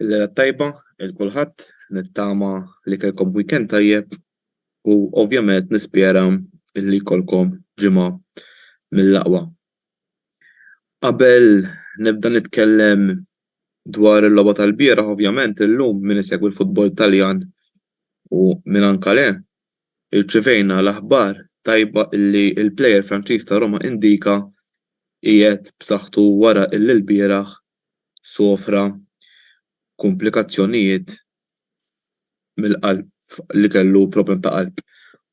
Lejla t-tajba il kulħadd, nittama li kellkom weekend tajjeb u ovvjament nispjera li jkollkom ġimgħa mill-aqwa. Qabel nibda nitkellem dwar il-logħba tal-bieraħ ovvjament illum min isegwi l-futbol Taljan u min anka le, Irċivejna l-aħbar tajba li l-plejer Franċiż ta' Roma Indika qiegħed b'saħħtu wara li lbieraħ sofra kumplikazzjonijiet mill-qalb li kellu problem ta' qalb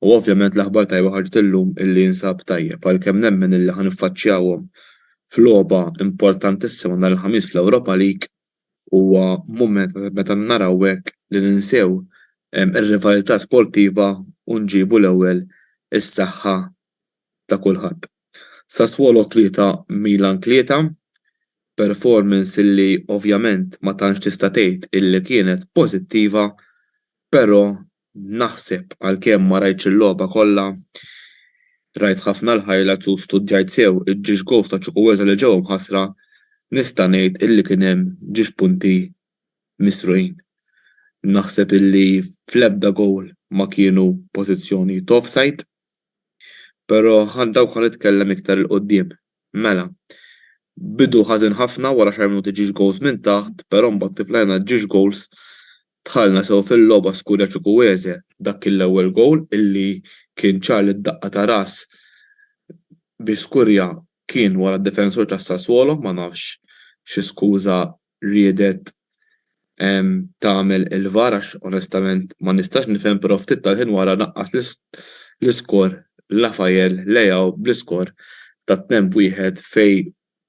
u ovvjament l-aħbar tajba ħarġet illum li jinsab tajjeb għalkemm nemmen li ħa niffaċċjahom f'logħba importantissima nhar il-Ħamis fl-Europa League huwa mument meta naraw hekk li ninsew ir-rivalità sportiva u nġibu l-ewwel is-saħħa ta' kulħadd. Sassuolo 3, Milan 3, performance li ovvjament ma tantx tista' tgħid illi kienet pożittiva, però Naħseb għalkemm ma rajtx il-logħba kollha, rajt ħafna l-highlights u studjajt sew il-ġiex goals ta' Chukwueze li ġew imħassra, nista' ngħid illi kien hemm ġiex punti misrugħin. Naħseb illi fl-ebda goal ma kienu pożizzjoni t'offside. Però għal dawk ħa nitkellem iktar 'il quddiem. Mela, bidu ħażin ħafna wara xi minuti ġiex goals minn taħt, però mbagħad tiflajna ġiex goals Dħalna sew fil-logħba Scuria Chukwueze dak kien l-ewwel gowl illi kien ċar li d-daqqa ta' ras bi Scuria kien wara d-difensur ta' Sassuolo ma nafx xi skuża riedet tagħmel il-var għax onestament ma nistax nifhem però ftit tal-ħin wara naqqas l-iskor Raphael Leao bl-iskor ta' tnejn b'wieħed fejn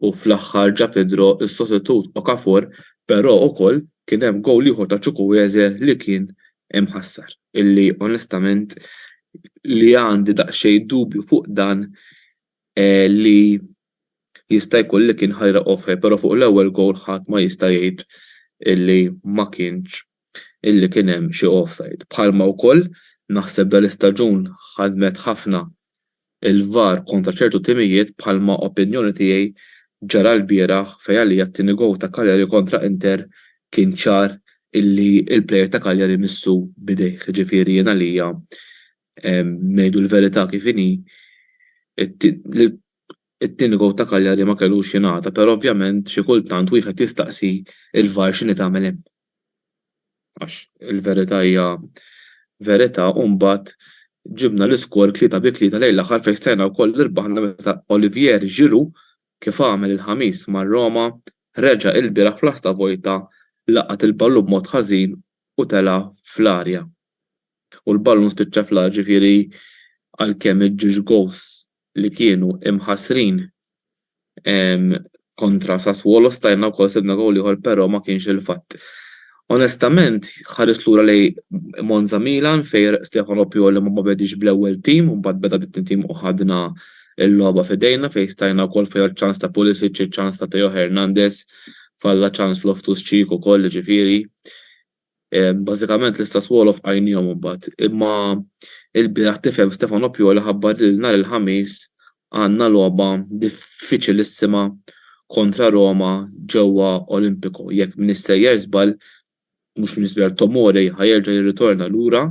U fl-aħħar ġa Pedro s-sostitut Okafor pero ukoll kien hemm gowl ieħor ta' Chukwueze li kien imħassar illi onestament li għandi daqsxejn dubju fuq dan li jista' jkun li kien ħajra offside pero fuq l-ewwel gowl ħadd ma jista' jgħid illi ma kienx illi kien hemm xi offside. Bħalma wkoll naħseb dal-istaġun ħadmet ħafna il-VAR kontra ċertu timijiet bħalma opinjoni tiegħi ġara lbieraħ fejn għalija t-tieni gowl ta' Cagliari kontra Inter kien ċar illi l-plejer ta' Cagliari missu b'idejh. Ġifieri jien għalija ngħidu l-verità kif inhi it-tieni gowl ta' Cagliari ma kellux jingħata però ovvjament xi kultant wieħed jistaqsi l-VAR x'inhi tagħmel hemm. għax il-verità hija verità u mbagħad ġibna l-iskor tlieta bi tlieta lejn l-aħħar fejn stajna wkoll irbaħna meta Olivier Giroud kif għamel il-Ħamis ma' Roma reġa' ilbieraħ fl-Asta Vojta laqat il-ballun b'mod ħażin u tela' fl-arja u l-ballun spiċċa fl-art ġifieri għalkemm iġġiex gowls li kienu imħassrin kontra Sassuolo stajna wkoll sibna gowl ieħor però ma kienx il-fatt. Onestament ħarist lura lejn Monza Milan fejn Stefano Pioli ma bediex bl-ewwel team u mbagħad beda bit-tnien team u ħadna l-logħba f'idejna fejn stajna wkoll fejn iċ-ċans ta' Pulisic, iċ-ċans ta' Theo Hernandez, falla ċans Loftus-Cheek ukoll jiġifieri Bażikament l-istess wolof qajniehom imbagħad. Imma ilbieraħ tifhem Stefano Pioli ħabbar li nhar il-Ħamis għandna logħba diffiċilissima kontra Roma ġewwa Olimpico. Jekk m'iniex sejjer żball, mhux m'iniex żball, Tomori ħa jerġa' jirritorna lura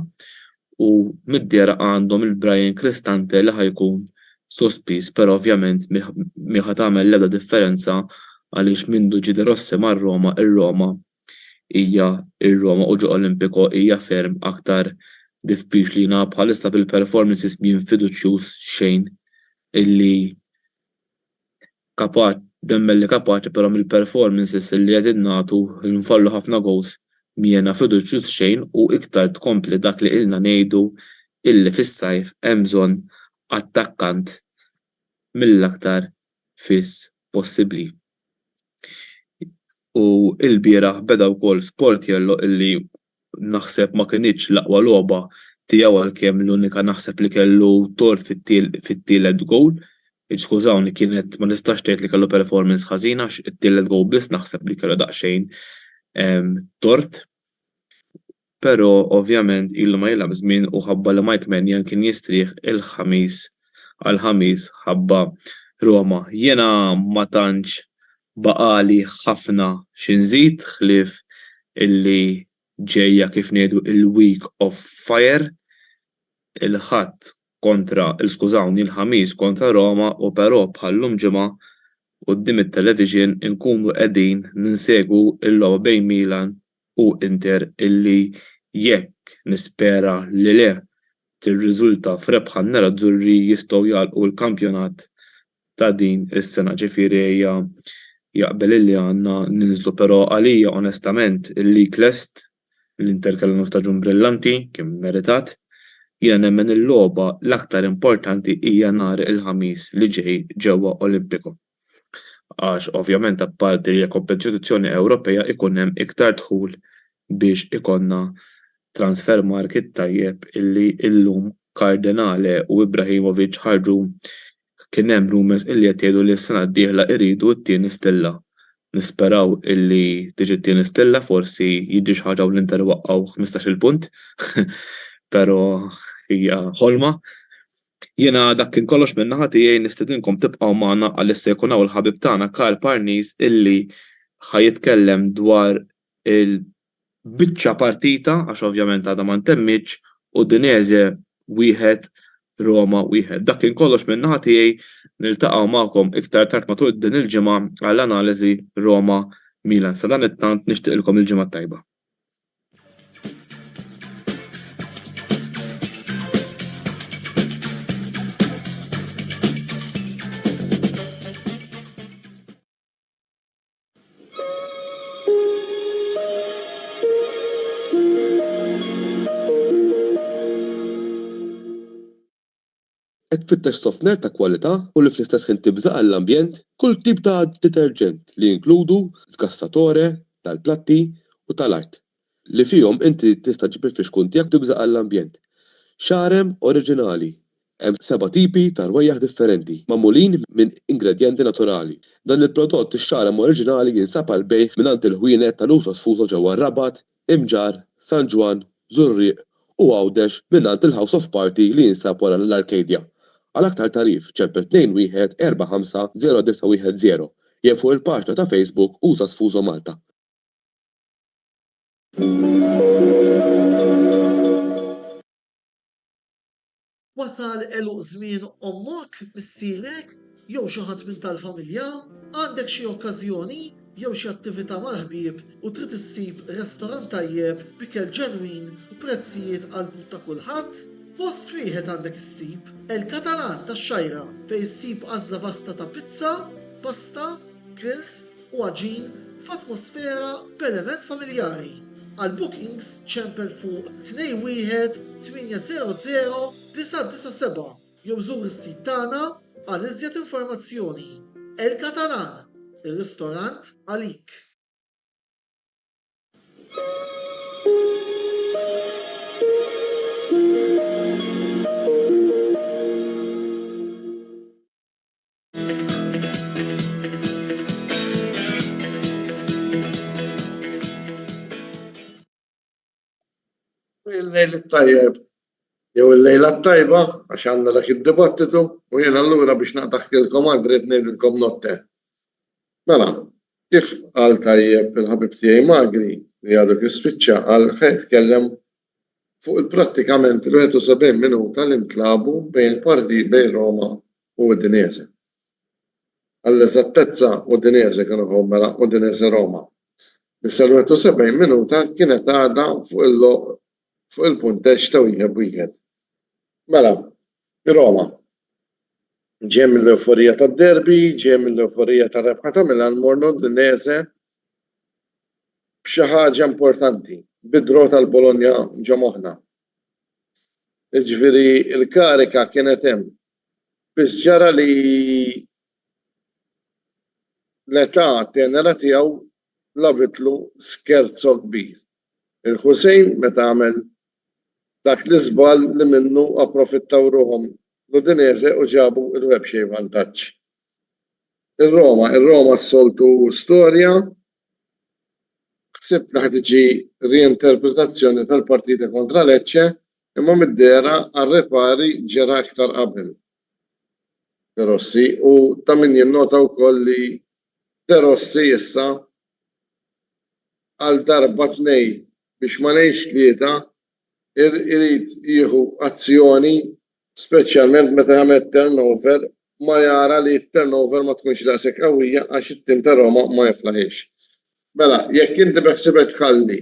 u mid-dehra għandhom il-Bryan Cristante li ħa jkun sospiż, però ovvjament mhi ħa tagħmel l-ebda differenza għaliex mindu ġie De Rossi mar-Roma, ir-Roma hija r-Roma u ġo Olimpico hija ferm aktar diffiċli jiena bħalissa bil-performances mien fiduċjuż xejn illi kapaċi nemmen li kapaċi però mill-performances illi qegħdin nagħtu li nfallu ħafna goals m'iena fiduċjuż xejn u iktar tkompli dak li ilna ngħidu illi fis-sajf hemm bżonn attakkant mill-aktar fis possibbli. U ilbieraħ beda wkoll Sportiello illi naħseb ma kinitx l-aqwa logħba tiegħu għalkemm l-unika naħseb li kellu tort fit-tielet gowl. Skużawni kienet ma tistax tgħid li kellu performance ħażina għax it-tielet gowl biss naħseb li kellu daqsxejn tort. Però, ovvjament, ilu ma jilgħab żmien u ħabba li Mike Maignan kien jistrieħ il-Ħamis għal Ħamis ħabba Roma. Jiena ma tantx baqagħli ħafna xi nżid ħlief illi ġejja kif ngħidu l-week of fire, il-Ħadd kontra, skużawni, il-Ħamis kontra Roma u però bħal-lum Ġimgħa quddiem it-television inkunu qegħdin ninsegwu l-logħba bejn Milan u Inter illi, jekk nispera li le, tirriżulta f'rebħa n-nerazzurri jistgħu jagħlqu l-kampjonat ta' din is-sena. Ġifieri ejja jaqbel illi għandna ninżlu però għalija onestament il-league lest, l-Inter kellhom staġun brillanti, kien mmeritat, jiena nemmen il-logħba l-aktar importanti hija nhar il-Ħamis li ġej ġewwa Olimpico. għax ovvjament apparti li hija kompetizzjoni Ewropea jkun hemm iktar dħul biex ikollna transfer market tajjeb illi llum Cardinale u Ibrahimovic ħarġu kien hemm rumours illi qed jgħidu li s-sena d-dieħla jridu t-tieni stilla Nisperaw illi tiġi t-tieni stilla forsi jiġri xi ħaġa u l-Inter iwaqqgħu ħmistax-il punt pero hija ħolma. Jiena dak kien kollox minn naħa tiegħi nistedinkom tibqgħu magħna għaliex se jkun hawn il-ħabib tagħna Karl Parnis illi ħa jitkellem dwar il Biċċa partita għax ovvjament għadha ma ntemmietx, Udinese wieħed, Roma wieħed. Dak kien kollox min-naħa tiegħi, niltaqgħu magħkom iktar tard matul din il-ġimgħa għal analiżi Roma, Milan. Sadanittant nixtieqilkom il-ġimgħa t-tajba. Qed tfittex softener ta' kwalità u li fl-istess ħin tibża' għall-ambjent? Kull tip ta' deterġent li jinkludu sgassatore tal-platti u tal-art, li fihom inti tista' ġġib il-fixkun tiegħek u tibża' għall-ambjent. Xarem oriġinali, Hemm seba' tipi ta' rwejjaħ differenti, magħmulin minn ingredjenti naturali. Dan il-prodott ix-xagħrem oriġinali jinsab għall-bejgħ mingħand il-ħwienet ta' Nusos Fuso ġewwa r-Rabat, Imġarr, San Ġwann, Żurrieq u Għawdex mingħand il-House of Party li jinsab wara l-Arcadia. Għal aktar tagħrif, ċempel 21 45 0910 jew fuq il-paġna ta' Facebook Usas Fuso Malta. Wasal għeluq żmien ommok, missierek, jew xi ħadd minn tal-familja? Għandek xi okkażjoni jew xi attività mal-ħbieb u trid issib restorant tajjeb b'ikel ġenwin u prezzijiet għall-but ta' kulħadd? Post wieħed għandek issib, El Catalan tax-Xgħajra, fejn issib għażla vasta ta' pizza, pasta, grills, u għaġin f'atmosfera b'element familjari. Għal bookings ċempel fuq 218000997 jew żur is-sit tagħna għal iżjed informazzjoni. El Catalan, ir-ristorant għalik! Il-lejl it-tajjeb jew il-lejla t-tajba għax għandna dak id-dibattitu u jien allura biex naqtaħtilkom għadrit ngħidilkom notte. Mela, kif qal tajjeb il-ħabib tiegħi Magri li għadu kif spiċċa għal ħed tkellem fuq il-prattikament il-71 minuta li ntlagħbu bejn il-partijiet bejn Roma u Udinese. Għall-eżattezza Udinese kienu ħew mela Udinese-Roma, li sal-71 minuta kienet għadha fuq il-logħoq fuq il-punteġġ ta' wieħed b'wieħed. Mela, Roma ġej mill-ewforija tad-derby, ġej mill-ewforija tar-rebħa ta' Milan morna Udinese b'xi ħaġa importanti, bid-draw tal-Bologna ġo moħħna. Jiġifieri l-karika kienet hemm. Biss ġara li l-età tenera tiegħu labitlu scherzo kbir. Il-Hussein meta għamel dak l-iżball li minnu approfittaw ruħhom l-Udinese u ġabu l-webxej vantaġġ. Ir-Roma, ir-Roma s-soltu storja, ħsibt li ħa tiġi rienterpretazzjoni tal-partita kontra Lecce imma mid-dehra għar-ripari ġera iktar qabel De Rossi u ta' min jinnota wkoll li De Rossi issa għal darba tnej biex ma ngħidx tlieta irid jieħu azzjoni speċjalment meta jagħmel turnover ma jara li t-turnover ma tkunx daqshekk qawwija għax it-tim ta' Roma ma jiflaħiex. Mela, jekk inti beħsibek tħalli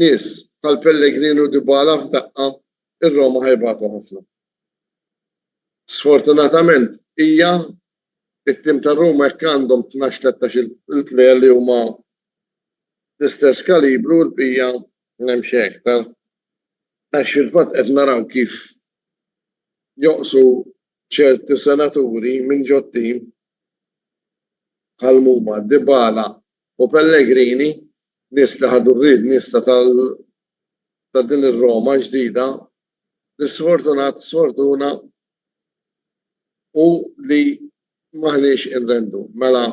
nies bħal Pellegrini u Dybala f'daqqa, ir-Roma ħa jbatu ħafna. Sfortunatament hija it-tim ta' Roma jekk għandhom 12-13 il-plejer li huma l-istess kalibru l-bija Hemm xi aktar. Għax fil-fatt qed naraw kif joqsu ċerti senaturi minn ġot-tim bħal muma Dybala u Pellegrini, nies li ħadu r-riedni issa ta' din ir-Roma ġdida li sfortunat sfortuna u li m'aħniex inrendu. Mela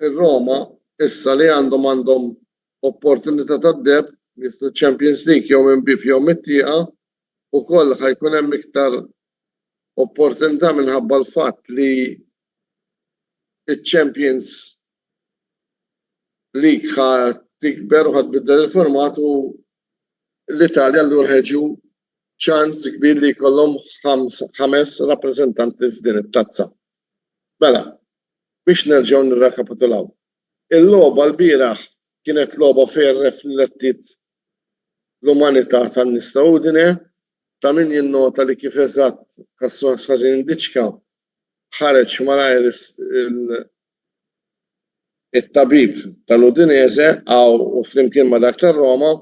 ir-Roma issa li għandhom għandhom Opportunità tad-deheb li fil-Champions League jew minn bieb jew mit-tieqa, ukoll ħa jkun hemm iktar opportunità minħabba l-fatt li ċ-Champions League ħa tikber u ħa tbiddel il-format u l-Italja allura ħa jiġu ċans kbir li jkollhom ħames rappreżentanti f'din it-tazza. Mela, biex nerġgħu nirrekapitulaw, Il-logħba lbieraħ kienet logħba fejn rreflettiet l-umanità tan-nies ta' Udine. Ta' min jinnota li kif eżatt Cassone Sazin Diċka ħareġ malajr il, it-tabib tal-Udinese u flimkien ma' dak tar-Roma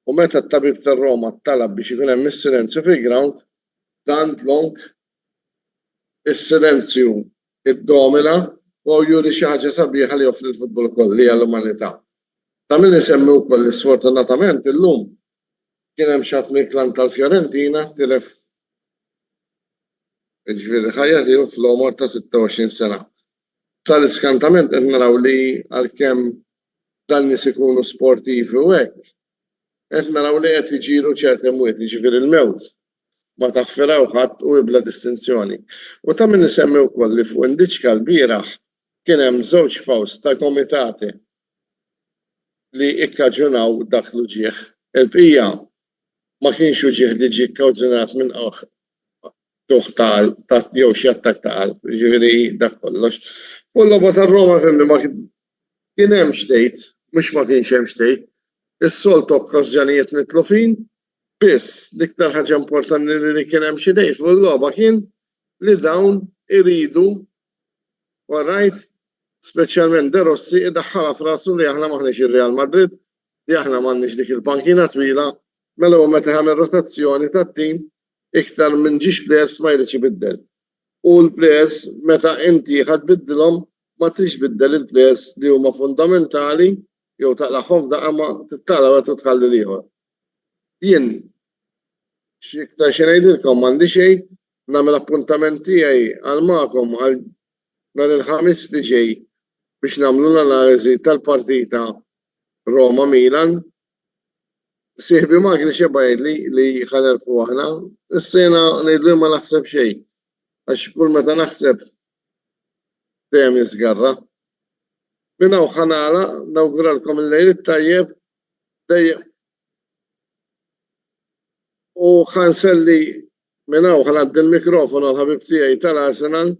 u meta t-tabib tar-Roma talab biex ikun hemm is-silenzju fil-grawnd, tant long is-silenzju iddomina u juri xi ħaġa sabiħa li joffri l-futbol ukoll, li hija l-umanità. Ta' min isemmi wkoll li sfortunatament illum kien hemm xi ħadd mill-klan tal-Fiorentina tilef jiġifieri l-ħajja tiegħu fl-għomor ta' 26 sena. Tal-iskantament qed naraw li għalkemm dan nies ikunu sportivi u hekk, qed naraw li qed iġiru ċerti mwiet, jiġifieri l-mewt Ma taħfiraw ħadd u hi bla distinzjoni. U ta' min isemmi wkoll li fuq Indiċka lbieraħ kien hemm żewġ faws ta' gomitate li ikkaġunaw dak l-uġigħ. Il-bqija ma kienx uġigħ li ġie kkawġunat minn qawħ tuħ ta' qalb jew xi attakk ta' qalb, jiġifieri dak kollox. Fuq il-logħba tar-Roma fehmni ma kien hemm x'tgħid, mhux ma kienx hemm x'tgħid. Is-soltu okkażjonijiet mitlufin Biss, l-iktar ħaġa importanti li kien hemm xi tgħid fuq il-logħba kien li dawn iridu u rajt speċjalment De Rossi idaħħalha f'rasu li aħna m'aħniex ir-Real Madrid, li aħna m'għandniex dik il-pankina twila, mela hu meta jagħmel rotazzjoni tat-tim iktar minn ġiex plejers ma jridx ibiddel. U l-plejers meta inti ħa tbiddilhom ma tridx tbiddel il-plejers li huma fundamentali jew taqlagħhom f'daqqa ma tittarra wara trid tħalli l-ieħor. Jien x'iktar xi ngħidilkom m'għandi xejn, nagħmel appuntament tiegħi għal magħkom għal nhar il-Ħamis li ġej biex nagħmlu l-analiżi tal-partita Roma Milan. Sieħbi Magni x'jebba' jgħidli li ħa nerbħu aħna, issa jiena ngħidlu ma naħseb xejn għax kull meta naħseb dejjem jiżgarra. Minn hawn ħa nagħlaq, nawguralkom il-Lejl it-tajjeb dejjem u ħa nselli minn hawn ħa ngħaddi l-mikrofon għal ħabib tiegħi tal-Arsenal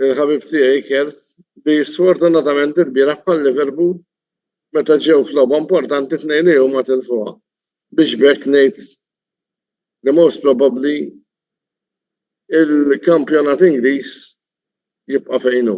il-ħabib tiegħi Kert li sfortunatament il-bieraħ bħal Liverpool meta ġew f'logħba importanti tnejn li huma tilfuha biex bekk ngħid the most probably il-kampjonat Ingliż jibqa' fejn hu.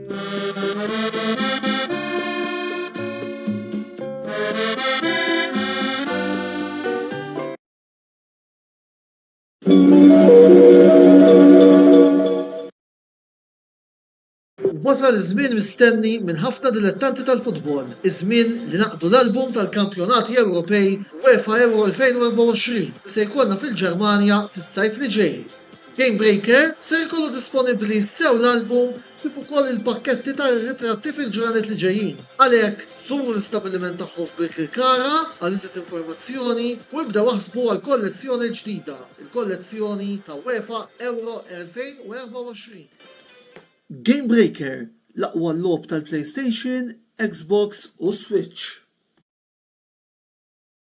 Wasal iż-żmien mistenni minn ħafna dilettanti tal-futbol, iż-żmien li naqdu l-album tal-kampjonati Ewropej UEFA Euro 2024 li se jkollna fil-Ġermanja fis-sajf li ġej. Gamebreaker ser ikollu disponibbli sew l-album kif ukoll il-pakketti ta' ritratti fil-ġranet li ġejjin. Għalhekk, żuru l-istabbiliment tagħhom f'Birkirkara għal iżjed informazzjoni u ibdew aħsbu għall-kollezzjoni l-ġdida, il-kollezzjoni ta' UEFA Euro 2024. Gamebreaker, l-aqwa logħob tal-PlayStation, Xbox u Switch.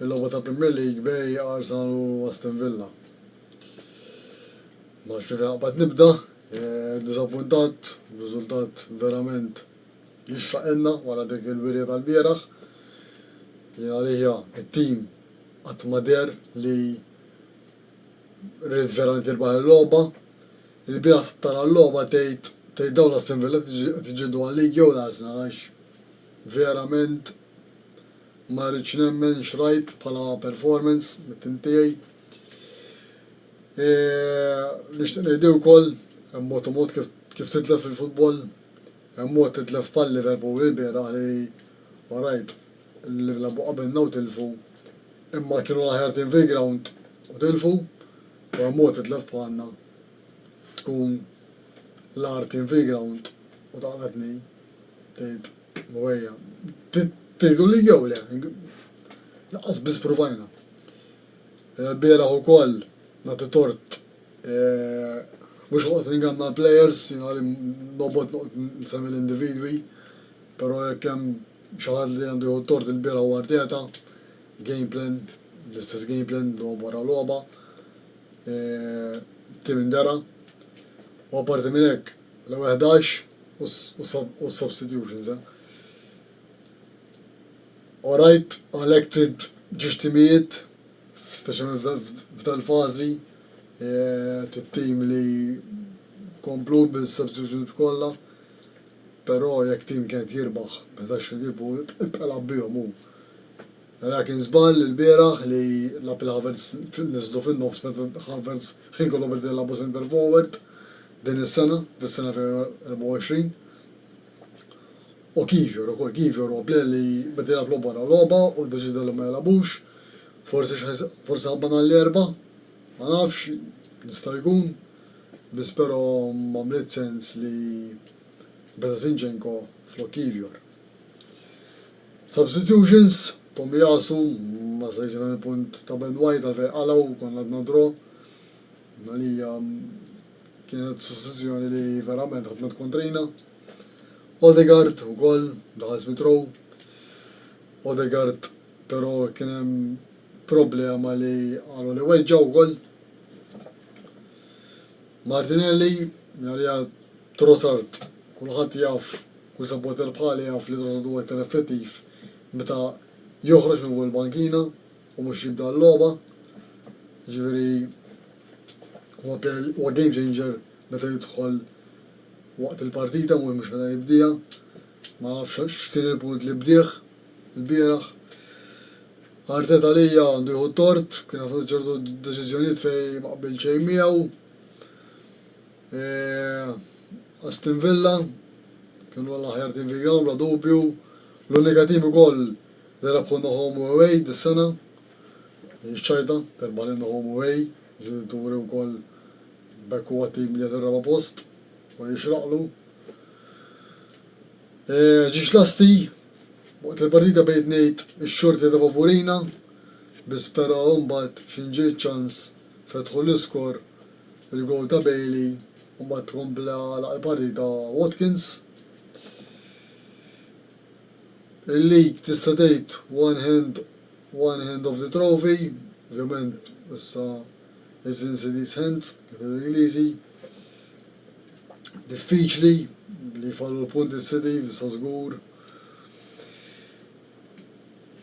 Il-logħba tal-Premier League bej Arsenal u Aston Villa. Ma nafx minn fejn aqbad nibda. Diżappuntat, riżultat verament jixraqilna wara dik il-wirja tal-bieraħ. Jien għalija t-tim qatt ma deher li ried verament jirbaħ il-logħba. Il-bieraħ tara l-logħba tgħid tgħid dawn l-Aston Villa qed iġġieldu għal-League jew l-Arsenal għax verament Ma rridx nemmen x'rajt bħala performance mit-tim tiegħi. Nixtieq ngħidli wkoll hemm mod u mod kif kif titlef fil-futbol. Hemm mod titlef bħal Liverpool ilbieraħ li orajt li labu qabilna u tilfu imma kienu l-aħjar tim fil-ground u tilfu u hemm mod titlef bħalna tkun l-agħar tim fil-ground u taqla' tnejn, tgħid. Ħwejja, tgħidu li jew le, lanqas biss pruvajna. L-bieraħ ukoll nagħti tort mhux ħoqt ninganna l-plejers, jien għali nobgħod noqgħod nsemmi l-individwi, però jekk hemm xi ħadd li għandu jieħu t-tort il-bieraħ huwa Arteta, game plan, l-istess game plan logħba wara logħba, tim indera u apparti minn hekk, L-ewwel ħdax u s-substitutions, eh. Orajt elected ġiex timijiet, speċjalment f'dal-fażi, t-tim li komplu bis-substitutions kollha, però jekk tim kien qed jirbaħ b'ħdax il ħbieb u bqa' lagħab bihom hu. Mela kien żball ilbieraħ li lagħab lil Havertz, niżlu fin-nofs meta Havertz ħin kollu beda jilagħbu centre forward, Din is-sena, fis-sena 2024, u Kivior ukoll, Kivior huwa plejer li beda jilgħab logħba wara logħba u ddeċieda li ma jilgħabux, forsi x'ħa forsi ħabba nhar l-Erbgħa, ma nafx, jista' jkun, biss però m'għamliet sens li beda Zinchenko flok Kivior. Substitutions, Tomiyasu ma setgħetx jifhem il-punt ta' Ben White għalfejn qalgħu, konna għadna draw, li hija kienet sostituzzjoni li verament ħadmet kontrina. Odegaard ukoll daħal Smith Rowe. Odegaard però kien hemm problema li qalu li weġġa' wkoll. Martinelli għalija Trossard kulħadd jaf kull supporter bħali jaf li Trossard huwa iktar effettiv meta joħroġ minn fuq il-bankina U mhux jibda l-logħba. Jiġifieri huwa player, huwa game changer meta jidħol waqt il-partita mhux mhux meta jibdieha. Ma nafx x'kien il-punt li bdieh ilbieraħ. Arteta għalija għandu jieħu t-tort, kien qed jagħti ċertu deċiżjonijiet fejn ma qbilt xejn miegħu. E, Aston Villa kienu l-aħjar tim fil-ground bla dubju. L-unika tim ukoll Narafu Nohom Uei dis-sena, din ix-xahida, terbħa lil Nohom Uei, ġenituri wkoll b'hekk huwa tim li qed ir-raba' post u jixraqlu. Ġiex lasti, waqt li l-partita bdejt ngħid ix-xorti ta' favurina, biss però mbagħad xi nġiet ċans fetħu l-iskor il-gowl ta' Bailey u mbagħad kompla għalaq il-partita Watkins. Il-league tista' tgħid one hand one hand of the trophy, ovvjament issa it's in City's hands kif jgħidu l-Ingliżi. Diffiċli li jfallu l-punti s-City issa żgur.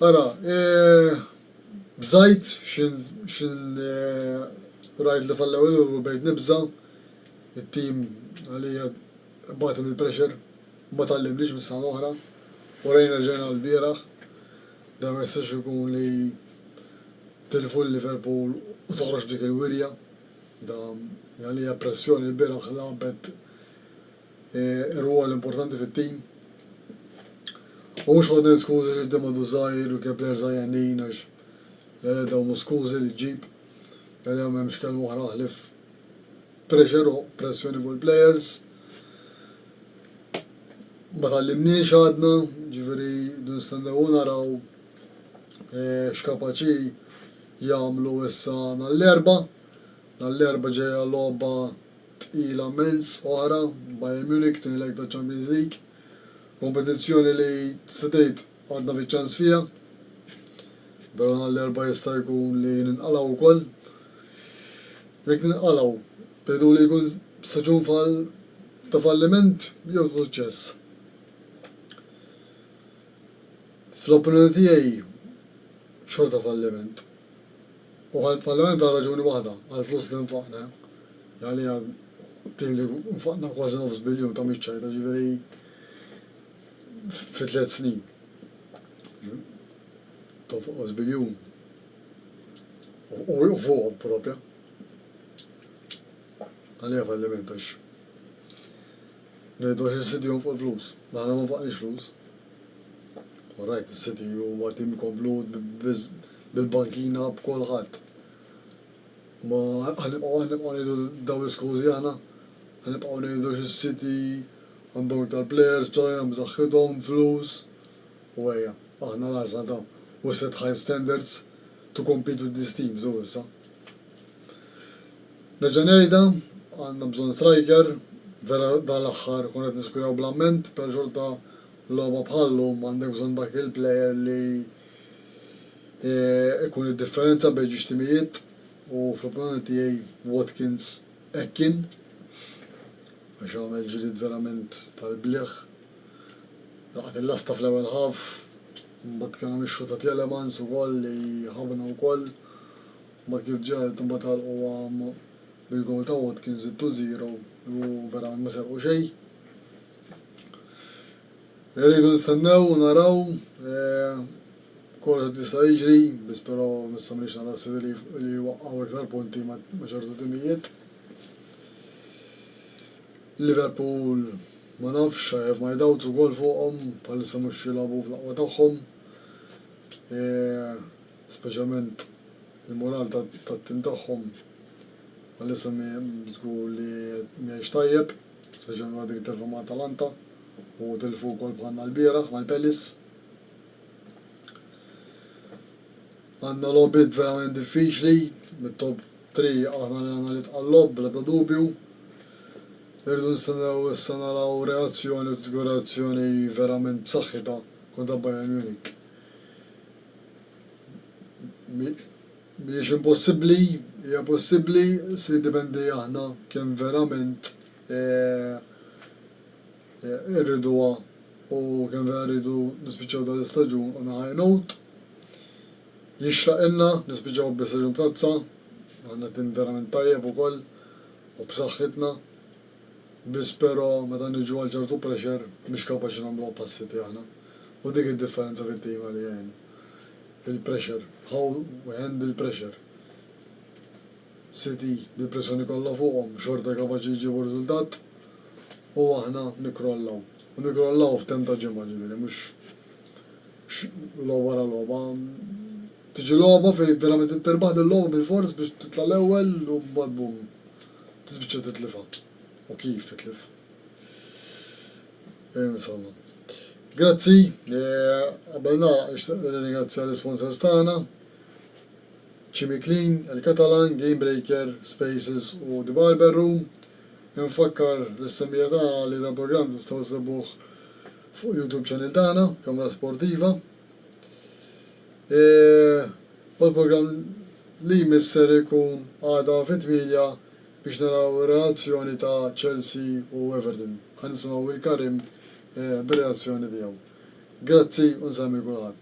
Ara, bżajt x'in rajt li fallew il-Liverpool bdejt nibża', it-tim għalija Parti mill-pressure ma tgħallimniex mis-sena l-oħra u rajna rġajna l-bieraħ dan ma jistax ikun li tilfu lil Liverpool u toħroġ b'dik il-wirja. Dan għalija pressjoni l-bieraħ lagħbet rwol importanti fit-tim. U mhux ħodna l-iskużi li qudiem għadu żgħir u kien plejer żgħir għenin għax għalija dawn mhux skużi li ġġib. Għalija m'hemmx kelma oħra ħlief Pressure u pressjoni fuq il-players. Ma tgħallimniex għadna, ġifieri rridu nistennew u naraw x'kapaċi jagħmlu issa nhar l-Erbgħa. Nhar l-Erbgħa ġejja logħba tqila mmens oħra, Bayern Munich, tieni leg taċ-Champions League. Kompetizzjoni li tista' tgħid Għadna fiċ-ċans fiha. Vera nhar l-Erbgħa jista' jkun li ninqalgħu wkoll. Jekk ninqalgħu, tgħidu li jkun staġun ta' falliment jew ta' suċċess? Fl-opinjoni tiegħi xorta falliment. U falliment għal raġuni waħda, għall-flus li nfaqna. Għaliha din li nfaqna kważi nofs biljun ta' miċċajta, jiġifieri. fi tliet snin tonqos biljun u fuqhom propja. Għalija falliment għax ngħidu għax is-City jonfoq il-flus. Ma aħna ma nfaqniex flus. All right, is-City huwa tim komplut bil-bankina b'kulħadd. Ma ħanibqgħu ngħidu dawn l-iskużi aħna? Ħanibqgħu ngħidu għax is-City Għandhom iktar players b'saħħithom, b'saħħithom, flus u ejja, aħna l-għarsa ta' u set high standards to compete with these teams u issa. Nerġa' ngħidha, għandna bżonn striker, vera dan l-aħħar konna qed niskuraw bl-amment, però xorta logħba bħal llum għandek bżonn dak il-player li ikun id-differenza bejn ġiex timijiet u fl-opinjoni tiegħi Watkins Hekk kien, għax għamel ġlied verament tal-bliħ. Laqat il-lasta fl-ewwel half, imbagħad kien hawn ix-xutt ta' Tielemans ukoll li ħabna wkoll. Imbagħad kif ġiet imbagħad għalquha bil-gowl ta' Watkins it-two zero u verament ma serqu xejn. Irridu nistennew u naraw kollox qed jista' jiġri, biss però issa minix nara ħsieb li li jwaqqgħu iktar punti ma' ma' ċertu timijiet. Liverpool ma nafx, I have my doubts ukoll fuqhom, bħalissa mhux qed jilgħobu fl-aqwa tagħhom. Speċjalment il-mural tat-tim tagħhom bħalissa mhi żgur li mhijiex tajjeb. Speċjalment wara dik it-telfa ma' Atalanta u tilfu wkoll bħalna lbieraħ mal Pelis. Għandna logħbiet verament diffiċli, mit-top three aħna li għandna l-itqal għall-logħob bl-ebda dubju. Irridu nistennew issa naraw reazzjoni u tkun reazzjoni verament b'saħħitha kontra Bayern Munich. Mhijiex impossibbli, hija possibbli, se jiddependi aħna kemm verament irriduha u kemm vera rridu nispiċċaw dan l-istaġun on a high note. Jixraqilna nispiċċaw bi staġun b'tazza, għandna tim verament tajjeb ukoll u b'saħħitna, biss però meta niġu għal ċertu pressure mhux kapaċi nagħmluha pass City aħna u dik id-differenza fit-tim għalija jien. il-pressure, how we handle pressure, City bil-pressjoni kollha fuqhom xorta kapaċi jġibu riżultat u aħna nikkrollaw. U nikkrollaw f'temp ta' ġimgħa ġifieri mhux logħba wara logħba. Tiġi logħba fejn verament trid tirbaħ dil-logħba bilfors biex titla' l-ewwel u mbagħad bum tispiċċa titlifha u kif titlif. Grazzi, qabel nagħlaq nixtieq nirringrazzja l-isponsors tagħna, Chimiclean, il-Catalan, Gamebreaker, Spaces u The Barber Room. Infakkar lis-semmija tagħna li dal-programm tistgħu ssibuh fuq YouTube channel tagħna, Kamra Sportiva. U l-programm li jmiss ser ikun għada fit-tmienja Biex naraw ir-reazzjoni ta' Chelsea u Everton. Ħa nisimgħu lil Karim bir-reazzjoni tiegħu. Grazzi u nsemmi kulħadd.